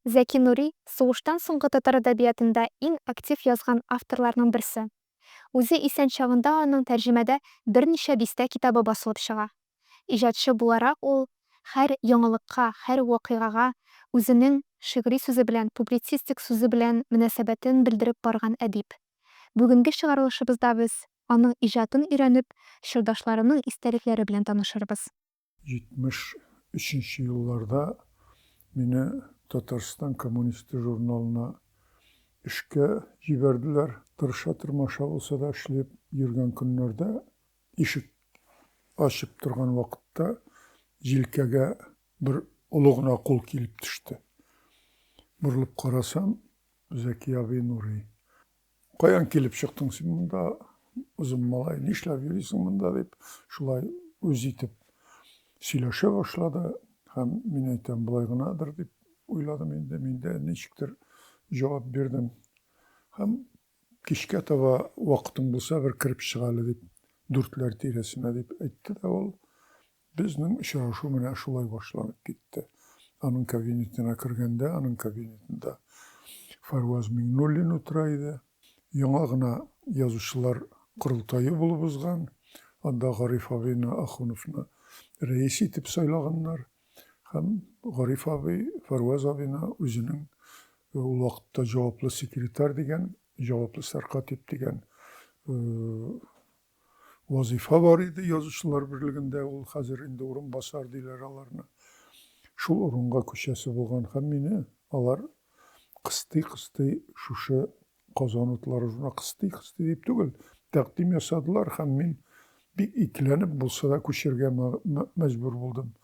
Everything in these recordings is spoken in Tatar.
Зәки Нури, сугыштан соңгы татар әдәбиятында иң актив язган авторларның берсе. Үзе исән чагында аның тәрҗемәдә берничә дистә китабы басылып чыга. Иҗатчы буларак ул һәр яңалыкка, һәр вакыйгага үзенең шигъри сүзе белән, публицистик сүзе белән мөнәсәбәтен белдереп барган әдип. Бүгенге чыгарылышыбызда без аның иҗатын өйрәнеп, чордашларының истәлекләре белән танышырбыз. 73 нче елларда мине Татарстан коммунисты журналына эшкә җибәрделәр. Тырыша-тырмаша булса да эшләп йөргән көннәрдә, ишек ачып торган вакытта җилкәгә бер олы гына кул килеп төште. Борылып карасам, Зәки абый Нурый. Каян килеп чыктың син монда, озын малай, нишләп йөрисең монда, дип, шулай үз итеп сөйләшә башлады. Һәм мин әйтәм, болай гынадыр дип уйладым инде, мин дә ничектер җавап бирдем. Һәм кичкә таба вакытың булса, бер кереп чыгалы дип, дүртләр тирәсенә дип әйтте дә ул. Безнең очрашу менә шулай башланып китте. Аның кабинетына кергәндә, аның кабинетында Фарваз Миңнуллин утыра иде. Яңа гына язучылар корылтае булып узган. Анда Гариф абыйны, Ахуновны рәис итеп сайлаганнар. Һәм Гариф абый Фарваз абыйны үзенең ул вакытта җаваплы секретарь дигән, җаваплы сәркатип дигән вазыйфа бар иде Язучылар берлегендә, ул хәзер инде урынбасар диләр аларны. Шул урынга күчәсе булган һәм мине алар кыстый-кыстый шушы Казан утлары журна кыстый-кыстый дип түгел, тәкъдим ясадылар һәм мин бик икеләнеп булса да күчәргә мәҗбүр булдым.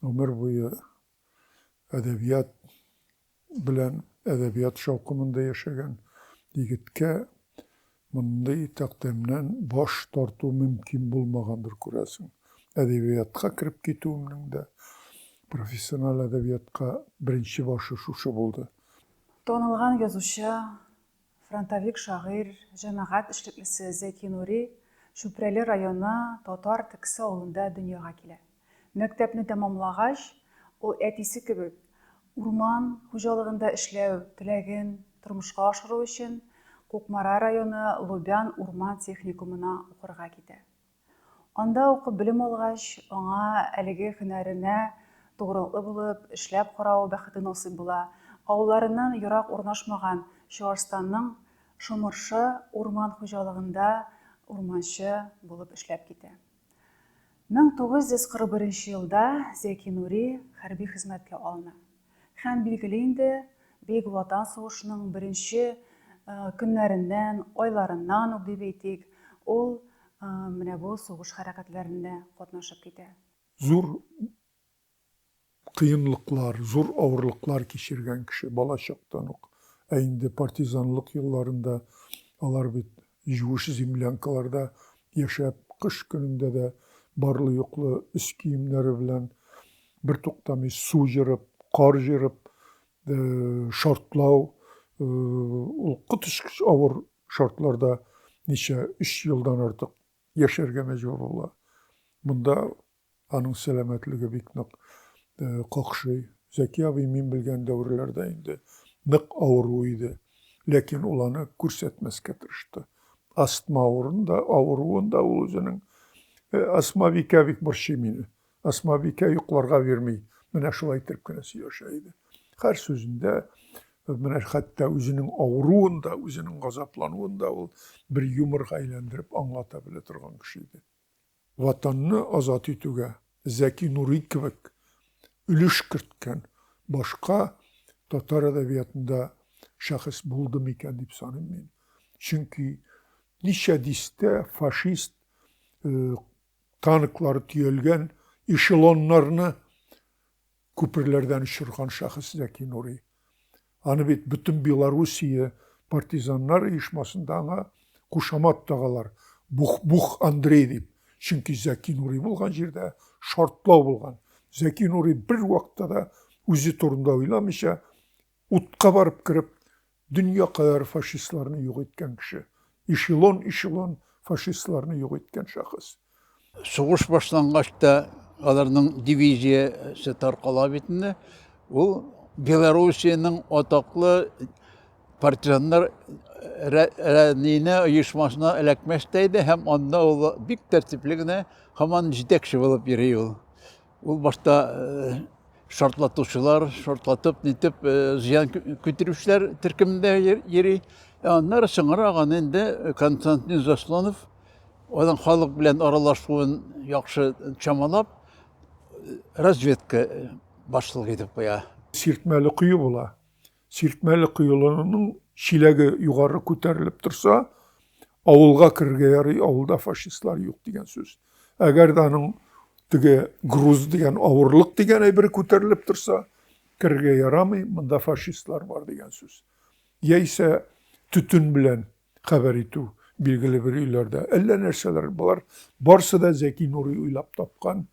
Гомер буе әдәбият белән, әдәбият шаукымында яшәгән егеткә мондый тәкъдимнән баш тарту мөмкин булмагандыр, күрәсең. Әдәбиятка кереп китүемнең дә, профессиональ әдәбиятка беренче башы шушы булды. Танылган язучы, Фронтовик шагыйрь, җәмәгать эшлеклесе Зәки Нури Чүпрәле районы Татар Тексе авылында дөньяга килә. Мәктәпне тәмамлагач, ул әтисе кебек, урман хуҗалыгында эшләү теләген тормышка ашыру өчен Кукмара районы Лубян урман техникумына укырга китә. Анда укып белем алгач, аңа әлеге һөнәренә тугрылыклы булып эшләп карау бәхете насыйп була. Авылларыннан ерак урнашмаган Чуашстанның Шомыршы урман хуҗалыгында урманчы булып эшләп китә. 1941 елда Зәки Нури хәрби хезмәткә алына. Һәм билгеле инде, Бөек Ватан сугышының беренче көннәреннән, айларыннан ук дип әйтик, ул менә бу сугыш хәрәкәтләрендә катнашып китә. Зур кыенлыклар, зур авырлыклар кичергән кеше бала чактан ук, ә инде партизанлык елларында алар бит Юеш землянкаларда яшәп, кыш көнендә дә барлы-юклы өс киемнәре белән бертуктамый су җырып, кар җырып, шартлау, ул коточкыч авыр шартларда ничә, өч елдан артык яшәргә мәҗбүр була. Монда Аның сәламәтлеге бик нык какшый. Зәки абый мин белгән дәверләрдә инде нык авыру иде. Ләкин ул аны күрсәтмәскә тырышты. Астма авырын да, авыруын да ул үзенең, Асмабикә бик борчый мине. Асмабикә йокларга бирми. Менә шулай иттереп кенә сөйләшә иде. Һәр сүзендә, менә хәтта үзенең авыруын да, үзенең газаплануын да ул бер юморга әйләндереп аңлата белә торган кеше иде. Ватанны азат итүгә Зәки Нурый кебек өлеш керткән башка татар әдәбиятында шәхес булды микән дип саныйм мин. Чөнки ничә дистә фашист танклары төялгән эшелоннарны күперләрдән очырган шәхес Зәки Нури. Аны бит бөтен Белоруссия партизаннар оешмасында аңа кушамат тагалар, Бух-бух Андрей дип. Чөнки Зәки Нури булган җирдә шартлау булган. Зәки Нури бервакытта да үзе турында уйламыйча, Утка барып кереп, дөнья кадәр фашистларны юк иткән кеше. Эшелон-эшелон фашистларны юк иткән шәхес. Сугыш башлангач та аларның дивизиясе таркала бит инде. Ул Белоруссиянең атаклы партизаннар рәнинә оешмасына эләкмәс тә иде һәм анда ул бик тәртипле генә һаман җитәкче булып йөри ул. Ул башта шартлатучылар, шартлатып, нитеп, зыян көттерүчеләр төркемендә йөри. Аннары соңрак аны инде Константин Заслонов аның халык белән аралашуын яхшы чамалап, разведка башлыгы итеп куя. Сиртмәле кое була. Сиртмәле коелының чиләге югары күтәрелеп торса, авылга керергә ярый, авылда фашистлар юк дигән сүз. Әгәр дә аның теге груз дигән авырлык дигән әйбер күтәрелеп торса, керергә ярамый, монда фашистлар бар дигән сүз. Яисә төтен белән хәбәр итү билгеле бер өйләрдә. Әллә нәрсәләр, болар барсы да Зәки Нурый уйлап тапкан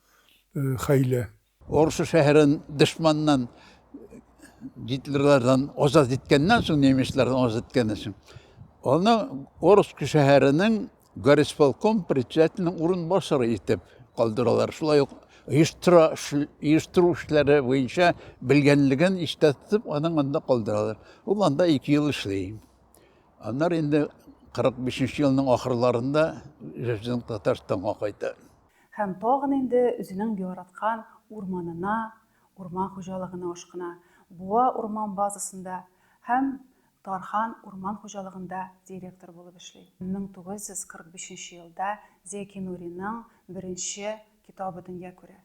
э, хәйлә. Орсу шәһәрен дошманнан, гитлерлардан азат иткәннән соң, немецлардан азат иткәннән соң, аны Орск шәһәренең горисполком председателенең урынбасары итеп калдыралар. Шулай ук оештыра, оештыру эшләре буенча белгәнлеген истә тотып, аның анда калдыралар. Ул анда ике ел эшли. Аннары инде 45 елның ахырларында Җәҗдин Татарстанга кайта. Һәм тагын инде үзенең яраткан урманына, урман хуҗалыгына ашкына. Буа урман базасында һәм Тархан урман хуҗалыгында директор булып эшли. 1945 нче елда Зәки Нуриның беренче китабы дөнья күрә.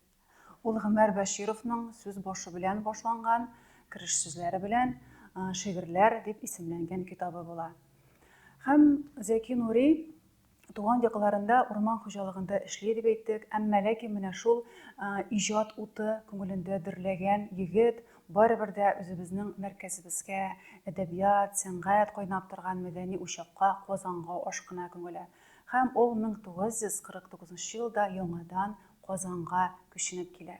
Ул Гомәр Бәшировның сүз башы белән башланган, кереш сүзләре белән Шигырьләр дип исемләнгән китабы була. Һәм Зәки Нури туган якларында урман хуҗалыгында эшли дип әйттек, әмма ләкин менә шул иҗат уты күңелендә дөрләгән егет барыбер дә үзебезнең мәркәзебезгә, әдәбият, сәнгать кайнап торган мәдәни учакка, Казанга ашкына күңеле. Һәм ул 1949 елда яңадан Казанга күченеп килә.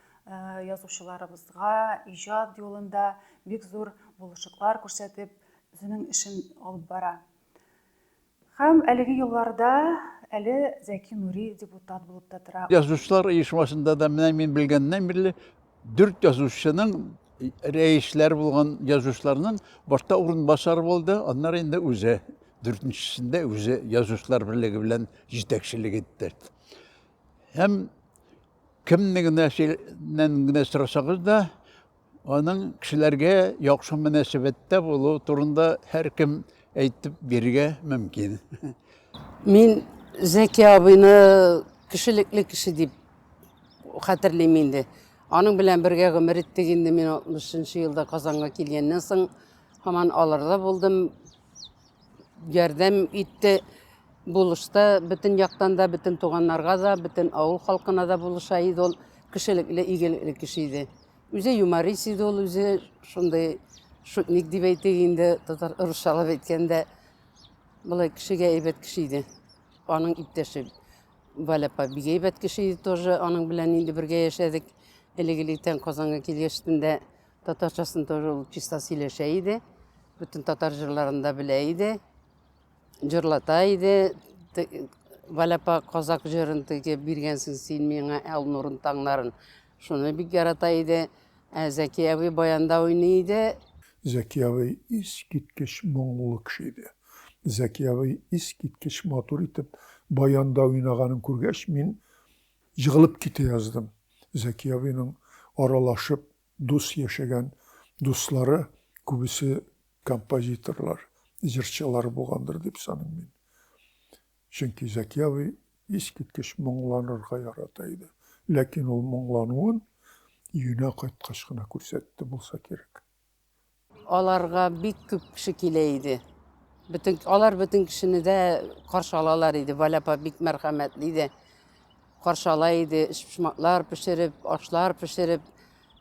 язучыларыбызга иҗат юлында бик зур булышыклар күрсәтеп, үзенең эшен алып бара. Һәм әлеге елларда әле Зәки Нури депутат булып та тора. Язучылар оешмасында да менә мин белгәннән бирле дүрт язучының рәисләр булган язучыларның башта урынбасар булды, аннары инде үзе дүртенчесендә үзе язучылар берлеге белән җитәкчелек итте. Һәм Кемне генә нән генә сорасагыз да, аның кешеләргә яхшы мөнәсәбәттә булу турында һәркем әйтеп бирергә мөмкин. Мин Зәки абыйны кешелекле кеше дип хәтерлим инде. Аның белән бергә гомер иттек инде мин 60 елда Казанга килгәннән соң һаман аларда булдым. Ярдәм итте булышты бөтен яктан да, бөтен туганнарга да, бөтен авыл халкына да булыша иде ул. Кешелекле, игелекле кеше иде. Үзе юморист иде ул, үзе шундый шутник дип әйтик инде, татар русчалап әйткәндә. Болай кешегә әйбәт кеше иде. Аның иптәше Валя апа бик әйбәт кеше иде тоже. Аның белән инде бергә яшәдек. Элек-электән Казанга килгәчтен дә Татарчасын тоже ул чиста сөйләшә иде. Бөтен татар җырларын да белә иде. Җырлата иде. Валяпа казак җырын теге биргәнсең син миңа ал нурын таңнарын. Шуны бик ярата иде. Ә Зәки абый баянда уйный иде. Зәки абый искиткеч моңлы кеше иде. Зәки абый искиткеч матур итеп баянда уйнаганын күргәч, мин Егылып китә яздым. Зәки абыйның аралашып, дус яшәгән дуслары күбесе композиторлар, җырчылар булгандыр дип саныйм мин. Чөнки Зәки абый искиткеч моңланырга ярата иде. Ләкин ул моңлануын өенә кайткач кына күрсәтте булса кирәк. Аларга бик күп кеше килә иде. Бөтен, алар бөтен кешене дә каршы алалар иде. Валя апа бик мәрхәмәтле иде. Каршы ала иде, эчпочмаклар пешереп, ашлар пешереп,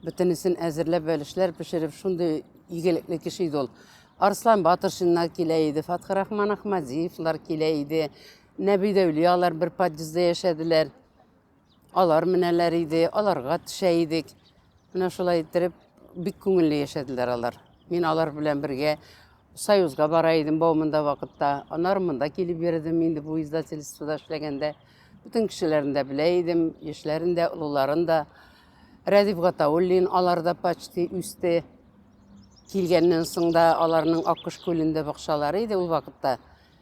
бөтенесен әзерләп, бәлешләр пешереп, шундый игелекле кеше иде ул. Арслан Батыршиннар килә иде, Фатхрахман Ахмадиевлар килә иде. Нәби Дәүлиялар бер подъездда яшәделәр. Алар менәләр иде, аларга төшә идек. Менә шулай иттереп, бик күңелле яшәделәр алар. Мин алар белән бергә Союзга бара идем баумында вакытта. Анар монда килеп йөрдем инде бу издательствода эшләгәндә. Бүтән кешеләрен дә белә идем, яшьләрен дә, олыларын да. Рәдиф Гатауллин алар да почти үсте. Килгәннән соң да аларның Аккош күлендә бакчалары иде ул вакытта.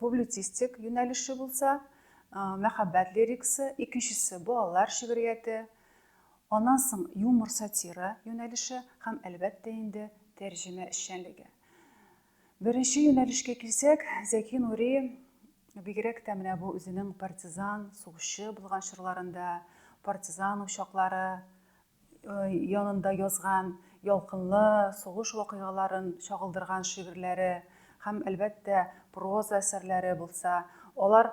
Публицистик юнәлеше булса, мәхәббәт лирикасы, икенчесе, балалар шигърияте, аннан соң юмор-сатира юнәлеше һәм, әлбәттә инде, тәрҗемә эшчәнлеге. Беренче юнәлешкә килсәк, Зәки Нури бигрәк тә менә бу үзенең партизан, сугышчы булган чорларында, партизан учаклары янында язган ялкынлы сугыш вакыйгаларын чагылдырган шигырьләре һәм, әлбәттә, проза әсәрләре булса, алар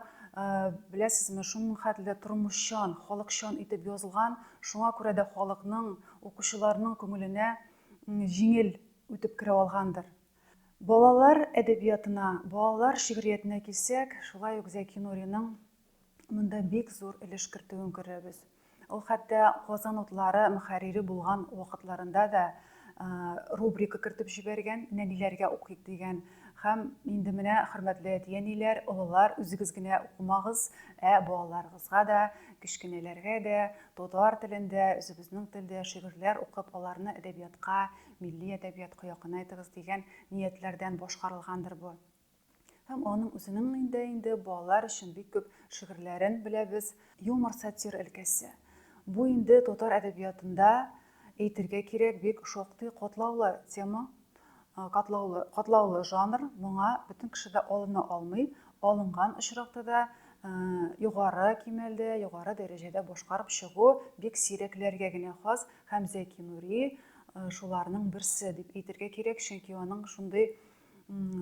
беләсезме, шуның хәтле тормышчан, халыкчан итеп язылган, шуңа күрә дә халыкның, укучыларның күңеленә җиңел үтеп керә алгандыр. Балалар әдәбиятына, балалар шигъриятенә килсәк, шулай ук Зәки Нуриның монда бик зур өлеш кертүен күрәбез. Ул хәтта Казан утлары мөхәррире булган вакытларында да рубрика кертеп җибәргән, нәниләргә укыйк дигән һәм инде менә хөрмәтле әти-әниләр, олылар, үзегез генә укымагыз, ә балаларыгызга да, кечкенәләргә дә татар телендә, үзебезнең телдә шигырьләр укып, аларны әдәбиятка, милли әдәбиятка якынайтыгыз дигән ниятләрдән башкарылгандыр бу. Һәм аның үзенең инде инде балалар өчен бик күп шигырьләрен беләбез. Юмор сатир өлкәсе. Бу инде татар әдәбиятында әйтергә кирәк бик шактый катлаулы тема, катлаулы, катлаулы жанр. Моңа бөтен кеше дә алына алмый. Алынган очракта да югары кимәлдә, югары дәрәҗәдә башкарып чыгу бик сирәкләргә генә хас һәм Зәки Нури шуларның берсе дип әйтергә кирәк, чөнки аның шундый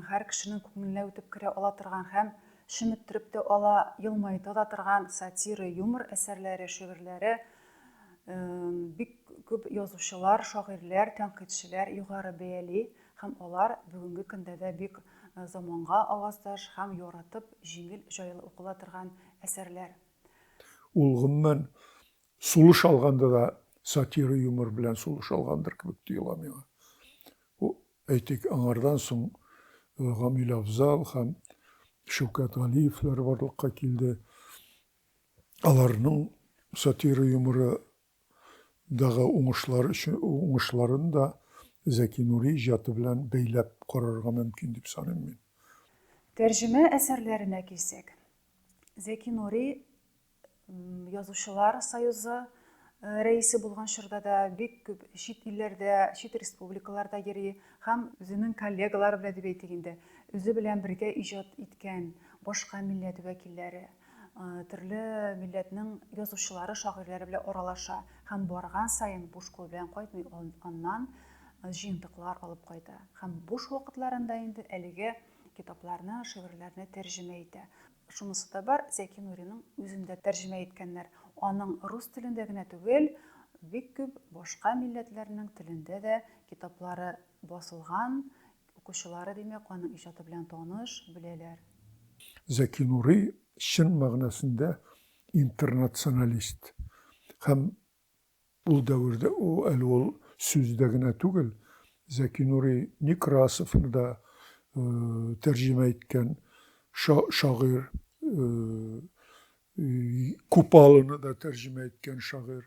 Һәр кешенең күңеленә үтеп керә ала торган һәм шөметтереп тә ала, елмайта да торган сатира, юмор әсәрләре, шигырьләре бик күп язучылар, шагыйрьләр, тәнкыйтьчеләр югары бәяли һәм алар бүгенге көндә дә бик э, заманга аваздаш һәм яратып, җиңел, җайлы укыла торган әсәрләр. Ул гомумән сулыш алганда да сатира юмор белән сулыш алгандыр кебек тоела миңа. Әйтик, аңардан соң Гамил Афзал һәм Шәүкәт Галиевләр барлыкка килде. Аларның сатира юморы дагы уңышлар өчен уңышларын да Зәки Нури иҗаты белән бәйләп карарга мөмкин дип саныйм мин. Тәрҗемә әсәрләренә килсәк, Зәки Нури язучылар союзы э, рәисе булган чорда да бик күп чит илләрдә чит республикаларда йөри һәм үзенең коллегалары белән дип әйтик инде үзе белән бергә иҗат иткән башка милләт вәкилләре э, төрле милләтнең язучылары шагыйрьләре белән аралаша һәм барган саен буш кул белән кайтмый аннан э, җыентыклар алып кайта һәм буш вакытларында инде әлеге китапларны шигырьләрне тәрҗемә итә Шунысы да бар, Зәки Нуриның үзен дә тәрҗемә иткәннәр. Аның рус телендә генә түгел, бик күп башка милләтләрнең телендә дә китаплары басылган, укучылары, димәк, аның иҗаты белән таныш, беләләр. Зәки Нури, чын мәгънәсендә интернационалист һәм Ул дәвердә әле ул сүздә генә түгел, Зәки Нурый Некрасовны да тәрҗемә иткән шагыйрь, Купалоны да тәрҗемә иткән шагыйрь,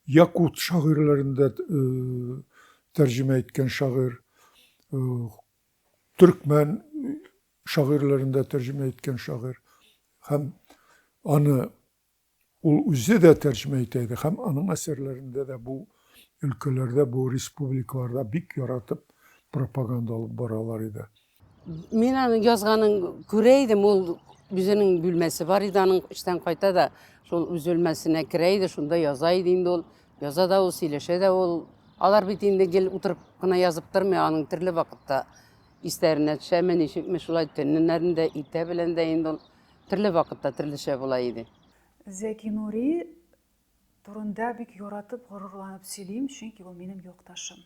якут шагыйрьләрен дә тәрҗемә иткән шагыйрь, төркмән шагыйрьләрен дә тәрҗемә иткән шагыйрь һәм аны Ул үзе дә тәрҗемә итә иде һәм аның әсәрләрендә дә бу өлкәләрдә, бу республикаларда бик яратып пропаганда алып баралар иде. Мин аның язганын күрә идем, ул үзенең бүлмәсе бар иде, аның эштән кайта да шул үз бүлмәсенә керә иде, шунда яза иде инде ул. Яза да ул, сөйләшә дә ул. Алар бит инде гел утырып кына язып тормый, аның төрле вакытта истәренә төшәме, ничекме шулай төннәрендә иртә белән дә инде ул Төрле вакытта төрлечә була иде. Зәки Нури турында бик яратып, горурланып сөйлим, чөнки ул минем якташым.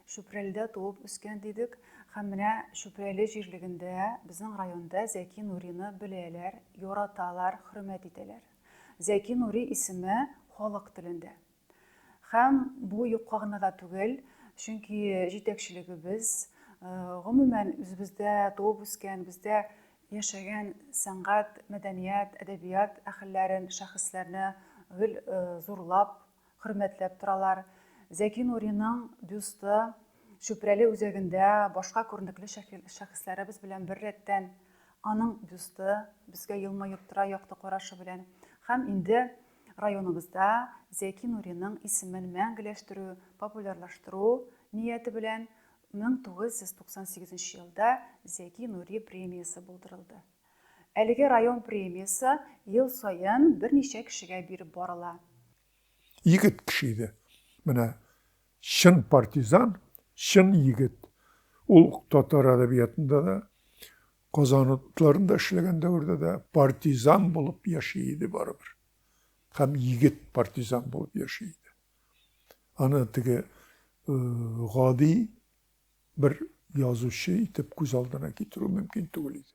Чүпрәледә туып үскән дидек, һәм менә Чүпрәле җирлегендә, безнең районда Зәки Нурины беләләр, яраталар, хөрмәт итәләр. Зәки Нури исеме халык телендә. Һәм бу юкка гына да түгел, чөнки җитәкчелегебез, гомумән, үзебездә туып үскән, бездә яшәгән сәнгать, мәдәният, әдәбият әһелләрен, шәхесләрне гел зурлап, хөрмәтләп торалар. Зәки Нуриның бюсты Чүпрәле үзәгендә башка күренекле шәхесләребез белән беррәттән, аның бюсты безгә елмаеп тора якты карашы белән. Һәм инде Районыбызда Зәки Нуриның исемен мәңгеләштерү, популярлаштыру нияте белән 1998 елда Зәки Нури премиясе булдырылды. Әлеге район премиясе ел саен берничә кешегә биреп барыла. Егет кеше иде. Менә чын партизан, чын егет. Ул татар әдәбиятында да, Казан отрядларында эшләгән дәвердә дә партизан булып яши иде барыбер. Һәм егет партизан булып яши иде. Аны теге э, гади бер язучы итеп күз алдына китерү мөмкин түгел иде.